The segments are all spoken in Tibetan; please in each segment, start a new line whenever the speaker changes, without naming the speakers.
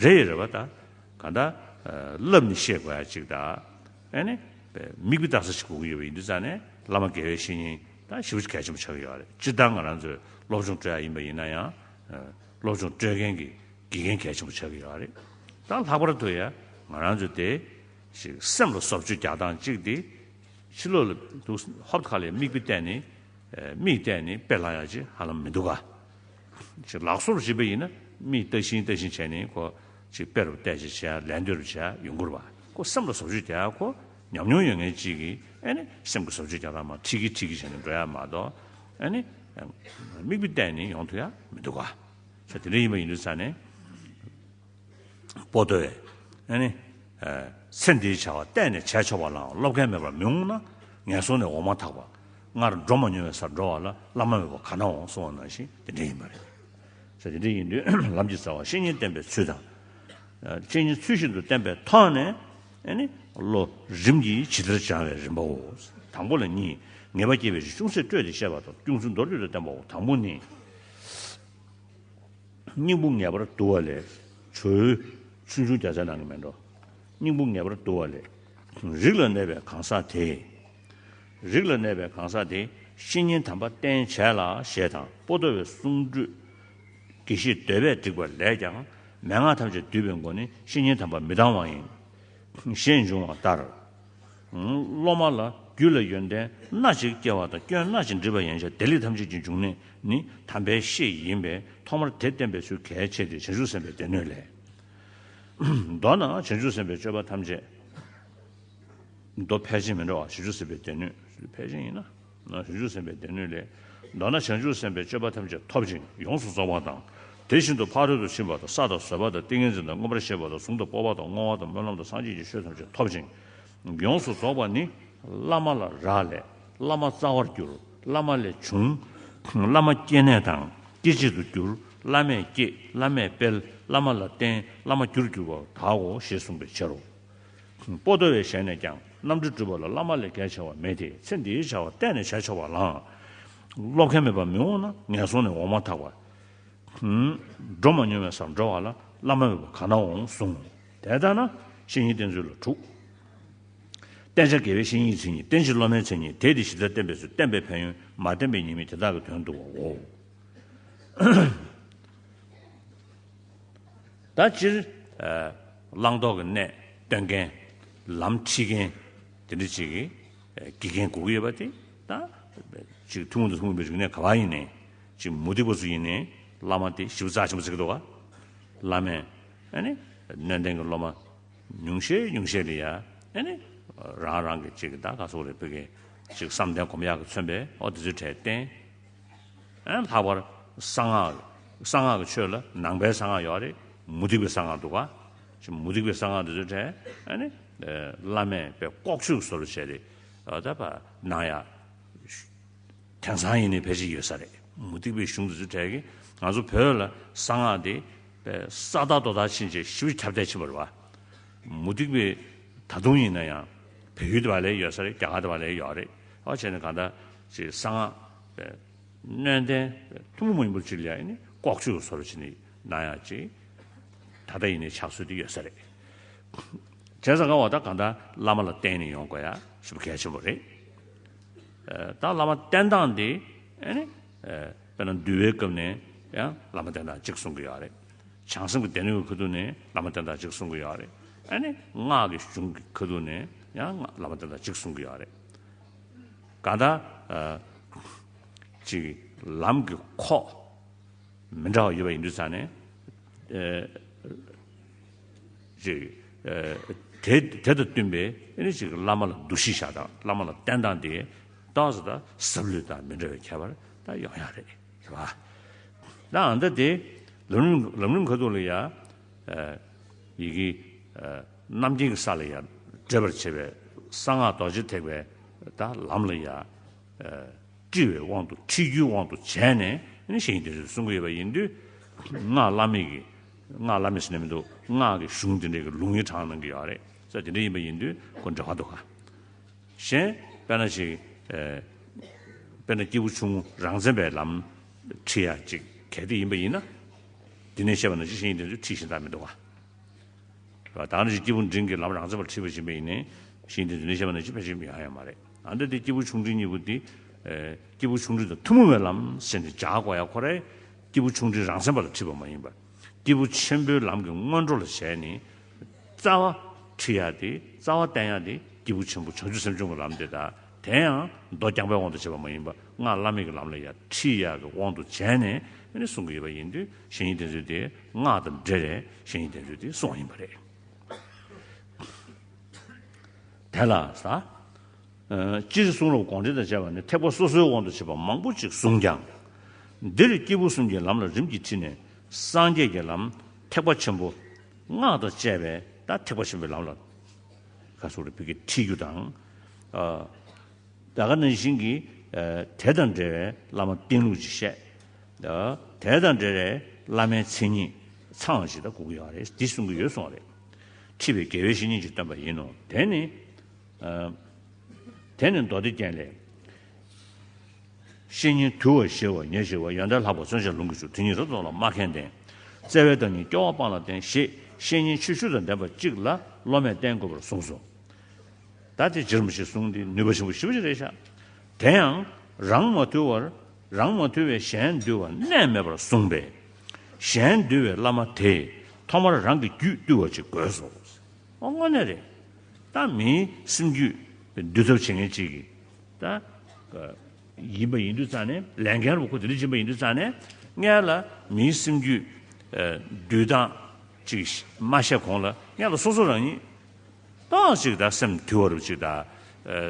རེད་རེད་བ་ད་ག་ད་བསླབ་ནི་ཤེས་དགོས་ཡ་གཅིག་ད་ཨེ་ནི་མིག་དཔེ་བལྟ་ས་ཞིག་དགོས་ཀྱི་ཡོད་པ་ཡིན་དུས་ཙང་ནས་བླ་མ་དགེ་བའི་བཤེས་གཉེན་ད་ཞིབ་བཤེར་གལ་ཆེན་པོ་བྱ་གི་ཡོད་རེད་སྤྱིར་བཏང་ང་རང་ཚོས་སློབ་སྦྱོང་སྤྲོད་ཡ་ཡིན་པ་ཡིན་ན་ཡང་སློབ་སྦྱོང་སྤྲོད་མཁན་གྱི་དགེ་རྒན་གལ་ཆེན་པོ་བྱ་གི་ཡོད་རེད་ད་ལྷག་པར་དུ་ཡ་ང་རང་ཚོས་དེ་ཞིག་སེམས་ལ་སོབ་ཆུ་རྒྱག་སྟངས་གཅིག་དེ་ཕྱི་ལོག་ལ་འདུག་ཧོབ་ཁ་ལས་མིག་དཔེ་བལྟས་ནི་མིག་བལྟས་ནི་དཔེ་ལྷག་ཡ་གཅིག་ཧ་ལམ་མི་འདུག་ག། ཅིག་ལག་སོར་བཞི་པ་ཡིན་ན་མིག་ལྟ་བཞིན་ལྟ་བཞིན་བྱས་ནས་ཁོ་ཅིག་དཔེ་རུ་བལྟས་བྱས་བྱས་ལན་ལྟོས་རུ་བྱས་ཡུན་འགོར་བ་ཁོ་སེམས་ལ་ཟོབ་ཆོས་དེ་ཧ་གོ་ཉམས་མྱོང་ཡོད་ངེས་ཅིག་ཨེ་ནི་སེམས་ཀྱི་ཟོབ་ཆོས་ཀྱང་ར་མ་ཁྲིག་གི་ཁྲིག་གི་བྱས་ནས་འགྲོ་ཡ་མ་གཏོགས་ཨེ་ནི། མིག་དཔེ་བལྟས་ནས་ཡོང་ཐུབ་ཡ་མི་འདུག་ག། ཆ་དེ་འདྲ་ཡིན་པ་ཡིན་དུས་ས་ནས། པོ་ཏོས། ཨེ་ནི། ཚེ་འདིའི་བྱ་བ་གཏན་ནས་བྱས་ཆོག་པ་ལའང་སློབ་མཁན་མེད་པར་མི་འོང་ན། ངན་སོང་ནས་འོང་མ་ཐག་པ། སྔར་འགྲོ་མ་མྱོང་བའི་སར་འགྲོ་བ་ལ་བླ་མ་མེད་པར་ག་ན་འོང་གསུང་བ་ནང་བཞིན་དེ་འདྲ་ཡིན་པ་རེད། ས་དེ་འདྲ་ཡིན་དུས་ལམ་གྱི་རྩ་བ་བཤེས་གཉེན་བསྟེན་པའི་ཚུལ་དང། བཤེས་གཉེན་ཚུལ་བཞིན་དུ་བསྟེན་པའི་ཐོག་ནས། ཨེ་ནི། བློ་རིམ་གྱིས་ཇི་ལྟར་སྦྱང་བའི་རིམ་པའོ། དང་པོ་ལ་གཉིས། ངེས་པ་སྐྱེས་པའི་རིགས་ཅུང་ཟད་སྤྲོས་ཏེ་བཤད་པ་དང་ཅུང་ཟད་མདོར་བསྡུས་ལ་བསྟན་པའོ། དང་པོ་ནི། སྙིང་པོ་ངེས་པར་བསྡུ་བ་ལས། བྱོའི། ཆུང་ཆུང་རྒྱ་ཆ་ནང་གི་མེ་འགྲོ། སྙིང་པོ་ངེས་པར་བསྡུ་བ་ལས། རིགས་ལ་གནས་པའི་གང་ཟག་དེས། རིགས་ལ་གནས་པའི་གང་ཟག་དེས་བཤེས་གཉེན་དམ་པ་བསྟེན་བྱས་ལ་ཞེས་དང་པོ་ཟློ་བའི་གསུང་སྒྲོས། དགེ་བཤེས་ཟློས་པས་བསྒྲིགས་པ་ལས་ཀྱང་མན་ངག་ཐམས་ཅད་བསྡུས་པའི་མགོ་ནི་བཤེས་གཉེན་དམ་པ་མི་ལྡང་བ་ཡིན། ཞེས་འབྱུང་བ་ལྟར། སློབ་མ་ལ་རྒྱུད་ལ་ཡོན་ཏན་སྣ་གཅིག་སྐྱེ་བ་དང་སྐྱོན་སྣ་གཅིག་འདྲིས་པ་ཡན་ཆད་དེ་ལས་ཐམས་ཅད་ཀྱི་འབྱུང་གནས་ནི་དམ་པའི་བཤེས་ཡིན་པས་ཐོག་མར་དེ་བསྟན་པའི་ཚུལ་གལ་ཆེ་སྟེ་བྱང་ཆུབ་སེམས་དཔའི་སྡེ་སྣོད་ལས། མདོར་ན་བྱང་ཆུབ་སེམས་དཔའི་སྤྱོད་པ་ཐམས་ཅད། མདོ་ཕལ་ཆེན་མི་འདྲ་བ་བྱང་ཆུབ་སེམས་དཔའི་སྡེ་སྣོད་ཕལ་ཆེན་ཡིན་ན། ན་བྱང་ཆུབ་སེམས་དཔའི་སྡེ་སྣོད་ལས། མདོར་ན་བྱང་ཆུབ་སེམས་དཔའི་སྤྱོད་པ་ཐམས་ཅད་ཐོབ་ཅིང་ཡོངས་སུ་རྫོགས་པ་དང། དེ་བཞིན་དུ་ཕ་རོལ་ཏུ་ཕྱིན་པ་དང་བསགས་དང་བཟོད་པ་དང་ཏིང་ངེ་འཛིན་དང་མངོན་པར་ཤེས་པ་དང་གཟུང་དང་སྤོབས་པ་དང་བསྔོ་བ་དང་སྨོན་ལམ་དང་སངས་རྒྱས་ཀྱི་ཆོས་ཐམས་ཅད་ཐོབ་ཅིང་ཡོངས་སུ་རྫོགས་པ་ནི། བླ་མ་ལ་རག་ལས། བླ་མ་རྩ་བར་གྱུར། བླ་མ་ལས་བྱུང། བླ་མ་སྐྱེ་གནས་དང་སྐྱེ་མཆེད་དུ་གྱུར། བླ་མས་བསྐྱེད། བླ་མས་སྤེལ། བླ་མ་ལ་བརྟེན། བླ་མ་རྒྱུར་གྱུར་པ་དག་གོ་ཞེས་གསུངས་པའི་ཕྱིར་རོ། པོ་ལྟོས་བའི་ཞལ་ནས་ཀྱང་རྣམ་འགྲེལ་སྒྲུབ་པ་ལ་བླ་མ་ལས་གལ་ཆེ་བ་མེད་དེ་ཚེ་འདིའི་བྱ་བ་གཏན་ནས་བྱས་ཆོག་པ་ལ། སློབ་མཁན་མེད་པར་མི་འོང་ན་ངན་སོང་ནས་འོང་མ་ཐག་པ། འགྲོ་མ་མྱོང་བའི་སར་འགྲོ་བ་ལ་བླ་མ་མེད་པར་གང་ན་འོང་གསུང། དེ་ལྟར་ན་བཤེས་གཉེན་བསྟེན་ཚུལ་ལ་དྲུག། བསྟེན་བྱ་དགེ་བའི་བཤེས་གཉེན་གྱི་མཚན་ཉིད་བསྟེན་བྱེད་སློབ་མའི་མཚན་ཉིད་དེས་དེ་གཞི་རྩར་བསྟེན་པའི་ཚུལ་བསྟེན་པའི་ཕན་ཡོན་མ་བསྟེན་པའི་ཉེས་དམིགས་དེ་དག་གི་དོན་བསྡུ་བའོ། ད་སྤྱིར་བླང་དོར་གྱི་གནད་སྟོན་མཁན། ལམ་ཁྲིད་མཁན། དེ་འདྲ་ཅིག་དགེ་རྒན་གོ་གི་ཡོད་པ་དེ་ད་ཅིག་ཐུན་མོང་དུ་ལྷུང་ཡོད་པའི་རིག་གནས་ག་བ་ཡིན་ནའི་ཅིག་མུ་སྟེགས་པ་ཚོ་ཡིན་ནའི་བླ་མ་དེ་ཞིབ་ཚགས་ཆེན་པོ་བྱེད་ཀྱི་འདུག་ག་བླ་མས་ཨནི་སྣོན་ལྡན་གྱི་སློབ་མ་ཉུང་ཤས་ཉུང་ཤས་ལ་ཡ་ཨནི་རང་རང་གི་ཅིག་གདའ་ག་ཚོགས་རེད་བོད་སྐད་ཅིག་བསམ་གཏན་གོམ་ཡག་གི་མཚོན་པའི་འོག་དེ་ཚོའི་གྲས་བསྟན། ལྷག་པར་གསང་སྔགས། གསང་སྔགས་ཀྱི་ཆོས་ལ་ནང་པའི་གསང་སྔགས་ཡོད་རེད། མུ་སྟེགས་པའི་གསང་སྔགས་འདུག་ག། མུ་སྟེགས་པའི་གསང་སྔགས་དེ་ཚོའི་གྲས། བླ་མས་དཔེ་ལྐོག་ཤུགས་བཟོ་རུ་བྱས་རེད། ད་བར་ནང་ཡ། དེང་སང་ཡིན་ནའི་བེད་སྤྱད་ཡོད་ས་རེད། མུ་སྟེགས་པའི་གཞུང་དེ་ཚོའི་གྲས་ཀྱིས་ང་ཚོ་བོད་ལ་གསང་སྔགས་དེ། ས་བདག་རྡོ་བདག་ཕྱིན་ཆད་ཞི་བ་ཁྱབ་གདལ་ཕྱིན་པར་བ། མུ་སྟེགས་པའི། ད་དུང་ཡིན་ན་ཡང། བལ་ཡུལ་དེ་བ་ལས་ཡོད་ས་རེད་རྒྱ་གར་དེ་བ་ལས་ཡོད་རེད། ཨོ་བྱས་ནས་གང་ལྟར། ཅེས་གསང་སྔགས་སྨན་བསྟན། ཐུན་མོང་མ་ཡིན་པར་བཅུ་ལ་ཡང་ནི་ལྐོག་ཆོས་ཀྱི་སོ་ར་བྱེད་ནི་སྣང་ཡང་ཅི། ད་ལྟ་ཡིན་ནའི་ཕྱག་སྲོལ་དེ་ཡོད་ས་རེད། བྱས་ཙང་བ་ད་གང་ལྟར་བླ་མ་ལ་བསྟེན་ནས་ཡོང་དགོས་ཡ་ཞུ་བ་གལ་ཆེན་པོ་རེད། ད་བླ་མ་བསྟེན་སྟངས་དེ་ཨེ་ནི། དཔེར་ན་འདུལ་བའི་སྐབས་ནས་ཡང་བླ་མ་བསྟེན་སྟངས་གཅིག་གསུང་གི་ཡོད་རེད། བྱང་སེམས་ཀྱི་སྡེ་སྣོད་ཀྱི་ཁུ་ཐུག་ནས་བླ་མ་བསྟེན་སྟངས་གཅིག་གསུང་གི་ཡོད་རེད། ཨེ་ནི། སྔགས་ཀྱི་གཞུང་གི་ཁུ་ཐུག་ནས་ཡང་བླ་མ་བསྟེན་སྟངས་གཅིག་གསུང་གི་ཡོད་རེད། གང་དང། གཅིག། ལམ་གྱི་ཁོག། མི་འདྲ་བ་ཡོད་པ་ཡིན་དུས་ཚང་ནས། གཅིག། དེ་དང་བསྟུན་པའི་གཅིག་བླ་མ་ལ་འདུ་ཤེས་བཞག་དང་བླ་མ་ལ་བསྟེན་སྟངས་དེ། སྟངས་སུ་དང་ཟབ་ལུས་དང་མི་འདྲ་བའི་ཁྱད་པར་དང་ཡོང་ཡག་རེད་ཟེར་བ། དང། ལམ་རིམ་ཁ་ཐུག་ལ་ཡང། ཡི་གེ། རྣམ་མཁྱེན་གྱི་ས་ལ་ཡང་འདྲེས་པར་བྱེད་པས་གསང་སྔགས་རྡོ་རྗེ་ཐེག་པའི་དང་ལམ་ལ་ཡང། དཀྲི་བའི་དབང་དུ་དཀྲི་རྒྱུའི་དབང་དུ་བྱས་ནས་བཞེངས་འདི་འདྲའི་གསུང་གི་ཡོད་པ་ཡིན་དུས། སྔགས་བླ་མེད་ཀྱི། སྔགས་བླ་མེད་ཟེར་ནས་མི་འདུག་སྔགས་ཀྱི་གཞུང་དེ་འདྲའི་ལུང་ཡིག་དྲངས་གནང་གི་ཡོད་རེད་ས་དེ་འདྲ་ཡིན་པ་ཡིན་དུས་གོ་འདྲ་བ་འདུག་ག་གཞན། དཔེར་ན་ཞིག། དཔེར་ན་སྐྱེས་བུ་ཆུང་ངུ་རང་མཚན་པའི་ལམ་འཁྲིད་ཡ་གཅིག་གལ་ཏེ་ཡིན་པ་ཡིན་ན། དེ་ནས་བཤད་པ་ན་ཅི་བཞེངས་འདི་འདྲའི་འཁྲིད་བཞིན་ད་མི་འདུག་ག། ལ་དྭགས་ནི་སྐྱེས་བུ་འབྲིང་གི་ལམ་རང་མཚན་པར་འཁྲིད་པ་བཞིན་པས་ཡིན། ཞེས་འདིར་འདི་ནས་བཤད་པ་ནི་སྤྱི་ཕན་ཆེན་པོ་ཡང་ཡང་མ་རེད། ཨ་མདོ་སྟེ་སྐྱེས་བུ་ཆུང་འབྲིང་གཉིས་པོ་དེ། སྐྱེས་བུ་ཆུང་འབྲིང་དང་ཐུན་མོང་བའི་ལམ་ཟེར་ནས་ཇག་གོ་ཡ་ཁོ་རེ། སྐྱེས་བུ་ཆུང་འབྲིང་རང་མཚན་པ་ལ་འཁྲིད་པ་མ་ཡིན་པར། སྐྱེས་བུ་ཆེན་པོའི་ལམ་གྱི་སྔོན་འགྲོ་ལ་ཞལ་ནས། རྩ་བ། འཁྲིད་ཡ་སྟེ་རྩ་བ་བསྟན་ཡ་སྟེ་སྐྱེས་བུ་ཆེན་པོ་བྱང་ཆུབ་སེམས་སྦྱོང་གི་ལམ་དེ་དག། དེ་ཡང་མདོ་རྐྱང་པའི་དབང་དུ་བྱས་པ་མ་ཡིན་པར་སྔགས་བླ་མེད་ཀྱི་ལམ་ལ་ཡང་ཁྲིད་ཡག་གི་དབང་དུ་བྱས་ནས་གསུང་གི་ཡོད་པ་ཡིན་དུས་གཞན་ཡིག་གདན་ཚུལ་དེ་སྔགས་དང་འབྲེལ་བའི་གཞན་ཡིག་གདན་ཚུལ་དེ་གསུང་བ་ཡིན་པ་རེད། དེ་ལ་ཟ། སྤྱིར་གསུང་རབ་དགོངས་འགྲེལ་དང་བཅས་པ་ནི་ཐེག་པ་སོ་སོའི་དབང་དུ་བྱས་པ་མང་པོ་ཅིག་གསུངས་ཀྱང། འདིར་སྐྱེས་བུ་གསུམ་གྱི་ལམ་ལ་རིམ་གྱིས་ཁྲིད་ནས་སངས་རྒྱས་ཀྱི་ལམ་ཐེག་པ་ཆེན་པོ། སྔགས་དང་བཅས་པའི་ཐེག་པ་ཆེན་པོའི་ལམ་ལ། ཁ་སོ་རུ་ཕུལ་གྱི་ཁྲིད་རྒྱུ་དང། བདག་ག་ནང་བཞིན་གྱི་དེ་དང་འབྲེལ་བའི་བླ་མ་བསྟེན་ལུགས་ཅིག་བཤད། དེ་དང་འབྲེལ་བའི་བླ་མའི་མཚན་ཉིད་ཚའང་ཇི་ལྟར་གོ་གི་ཡོད་རེད་འདི་གསུང་གི་ཡོད་གསུང་བ་རེད། ཁྲིད་པའི་དགེ་བའི་བཤེས་གཉེན་གྱིས་སྟོན་པ་ཡིན་ནོ། དེ་ནི། དེ་ནི་མདོ་སྡེ་རྒྱན་ལས། བཤེས་གཉེན་དུལ་བ་ཞེས་བ་ཉེར་བཞི་བ་ཡོན་བདག་ལྷག་པ་བརྩོན་བྱ་ལུང་གི་ཆུ་དེ་ཉིད་རོ་ཙོག་ལ་སྨྲ་མཁན་བསྟེན། བརྩེ་བའི་བདག་ཉིད་སྐྱོ་བ་སྤངས་ལ་བསྟེན་ཞེས་བཤེས་གཉེན་ཆོས་ཞུ་དང་ལྡན་པ་གཅིག་ལ་སློབ་མས་བསྟེན་དགོས་པར་གསུངས་སོ། ད་དེ་ཅིར་མི་བྱེད་གསུངས་ཏེ་ནུས་པ་ཆེན་པོ་ཞི་བ་ཅི་རེག་བྱ། དེ་ཡང་རང་མ་ཐུལ་བར་རང་མ་ཐུལ་བས་གཞན་འདུལ་བ་གནས་མེད་པར་གསུངས་པས། གཞན་འདུལ་བའི་བླ་མ་དེས་ཐོག་མར་རང་གི་རྒྱུད་བཏུལ་བ་ཅིག་དགོས་སོ། དངོས་གནས་རེད། ད་མིའི་སེམས་རྒྱུད་འདུལ་ཐབས་བྱེད་མཁན་གཅིག་གིས་ད། ཡིན་པ་ཡིན་དུས་རྩ་ནས་ལས་འགན་རུ་ཁོ་དེ་འདྲ་སྦྱིན་པ་ཡིན་དུས་རྩ་ནས་ངེད་ལ་མིའི་སེམས་རྒྱུད་འདུལ་སྟངས་ཅིག་མ་བཤད་གོང་ལ་ངེད་ལ་སོ་སོ་རང་ཉིད། སྟོང་གཅིག་དང་སེམས་དུལ་བ་རུ་གཅིག་དང།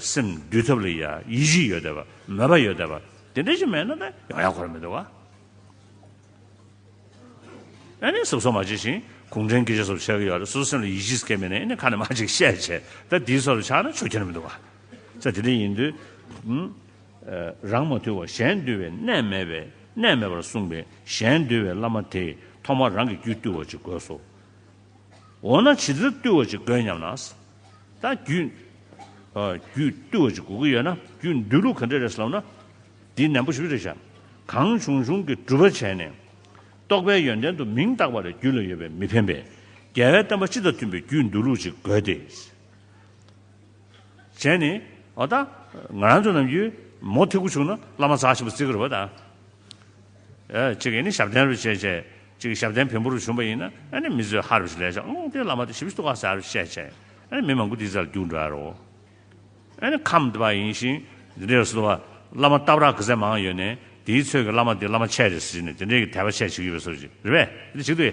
སེམས་འདུལ་ཐབས་ལ་ཡི་གཞི་ཡོད་དད་པ་མོས་པ་ཡོད་དད་པ་དེ་འདྲ་ཞིག་མེད་ན་ན་ཡང་ཡང་འཁོར་མི་འདུག་ག་ཨེ་ནས་གཟུགས་སོགས་མ་བྱས་ཤིང་གུང་ཁྲན་གྱིས་ཅི་སོགས་བྱེད་ཀྱི་ཡོད་རེད་གཟུགས་སེམས་ལ་ཡི་གཞི་སྐྱེ་མེད་ནས་ཨེ་ནས་ཁ་ནས་མ་ཅིག་བཤད་བྱས་ད་དེའི་སོགས་ལ་ཆགས་ན་ཆོས་ཁྱེར་མི་འདུག་ག་ཚེ་དེ་འདྲ་ཡིན་དུས། རང་མ་དུལ་བར་གཞན་དུལ་བའི་གནས་མེད་པས་གནས་མེད་པར་གསུངས་པས་གཞན་དུལ་བའི་བླ་མ་དེས་ཐོག་མར་རང་གི་རྒྱུད་བཏུལ་བ་ཅིག་དགོས་སོ། འོ་ན་བྱེད་རྩོལ་བཏུལ་བ་ཅིག་དགོས་སྙམ་ན། ད་རྒྱུད། རྒྱུད་བཏུལ་བ་ཅིག་དགོས་ཀྱི་ཡོད་ན་རྒྱུད་འདུལ་ལུགས་ག་འདྲ་རེད་ཟེར་ལབ་ན། འདི་ནན་པོ་ཞིབ་རེ་བྱ། གང་བྱུང་བྱུང་གི་སྒྲུབ་པ་བྱས་ནས། རྟོགས་པའི་ཡོན་ཏན་དུ་མིང་བཏགས་པ་ལས་རྒྱུད་ལ་ཡོད་པས་མི་ཕན་པས། རྒྱལ་བའི་བསྟན་པ་སྤྱི་དང་མཐུན་པའི་རྒྱུད་འདུལ་ལུགས་ཅིག་དགོས་ཏེ། བྱས་ནས། འོ་ད། ང་རང་ཚོ་རྣམས་ཀྱིས། མོ་ཐི་གུ་བྱུང་ན་བླ་མ་ཟག་བཞིན་པ་བརྩི་གི་རེད་པ་ད། ཅེས་ནི་ཞབས་བརྟན་རེ་བྱས། གཅིག་ཞབས་བརྟན་བོན་པོ་རུ་བྱོན་པ་ཡིན་ན་ནི་མི་བཟོད་ཧར་བཞིན་ལས་བྱང་སྟེ་བླ་མ་དེ་ཞི་བའི་སྟུ་ག་ཟེར་བཞིན་བཤད་བྱས་ནི་མི་མང་པོ་དེའི་རྩ་ལ་རྒྱུག་འགྲོ་ཡ་རོ། ནི་ཁམས་དེ་པ་ཡིན་ཞིང་དེ་འདྲའི་སྟུ་བ་བླ་མ་ལྟ་བར་གི་ཚད་མང་ཡོད་ནས་དེའི་ཚོད་ཀྱི་བླ་མ་དེ་བླ་མ་ཆད་རེད་ཟེར་ནི་དེ་འདྲའི་གི་དད་པ་ཆད་བྱེད་ཀྱི་ཡོད་པའི་སོ་བཞིན་རེད་བས།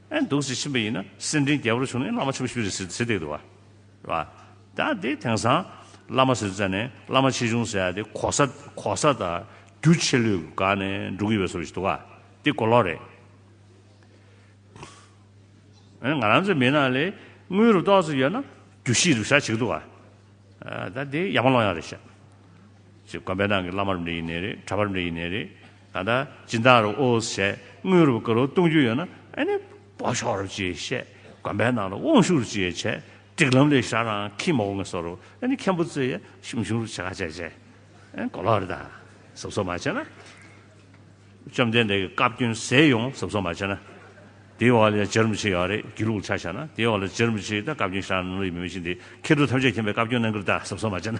ཨེ་འདུག་ཟེར་ཕྱིན་པ་ཡིན་ན་སེམས་འཕྲིན་རྒྱལ་པོར་བྱུང་ནས་བླ་མ་ཆེན་པོ་ཞུས་རེད་ཟེར་ཟེར་སྡད་འདུག་བ། ད་དེ་དེང་སང་བླ་མ་ཟེར་ཙ་ནས་བླ་མ་ཆེ་ཆུང་ཟེར་ཡ་དེ་གོ་ས་གོ་ས་དང་རྒྱུ་ཆེ་ལོས་དགའ་ནས་འགྲོ་གི་ཡོད་ཟེར་བ་ཞིག་འདུག་བ། དེ་གོ་ལོག་རེད། ཨེ་ང་རང་ཚོའི་མི་ནང་ལས་དངུལ་རུ་ཏོག་ཙམ་ཡོད་ན་རྒྱུ་ཤི་རུ་ཤ་བྱེད་གི་འདུག་བ། ད་དེ་ཡག་མ་ལོང་ཡག་རེད་བཤད། ཅེས་དགོན་པའི་ནང་གི་བླ་མ་རབ་འབྲིང་ཡིན་ནས་རེད་གྲྭ་པ་རབ་འབྲིང་ཡིན་ནས་རེད། ད་ལྟ་སྦྱིན་བདག་རུ་ཨོ་ཞེས་དངུལ་རུ་ཀ་རུ་གཏོང་རྒྱུ་ཡོད་ན་ཨེ་ནི་བོ་ཤོག་རུ་ཅེས་བཤད་དགོན་པའི་ནང་ལ་དབང་ཤུགས་རུ་ཅེས་བྱས་སྒྲིག་ལམ་ལས་ཤར་རང་ཁིས་མ་འོ་ངས་སོ་རུ་ཨེ་ནི་མཁན་པོ་རྩེ་ཡས་ཞུམ་ཞུམ་རུ་བྱེད་ཁ་བྱས་བྱས་ཨེ་གོ་ལོག་རེད་ད་ཟབ་གསོ་མ་བྱས་ན་བཅོམ་ལྡན་འདས་ཀྱི་བཀའ་བཀྱོན་ཟེར་ཡོང་ཟབ་གསོ་མ་བྱས་ན་དེའི་འོག་ལ་ཇེར་མི་བྱེད་ཡོད་རེད་རྒྱུས་ལུགས་ཆ་བྱས་ན་དེའི་འོག་ལ་ཇེར་མི་བྱེད་ད་བཀའ་བཀྱོན་ཤར་ནང་ལ་ཡོད་མི་མི་ཤེས་འདི་ཁེར་སྡུག་ཐམས་ཅད་མཁྱེན་པའི་བཀའ་བཀྱོན་གནང་གི་རེད་ད་ཟབ་གསོ་མ་བྱས་ན།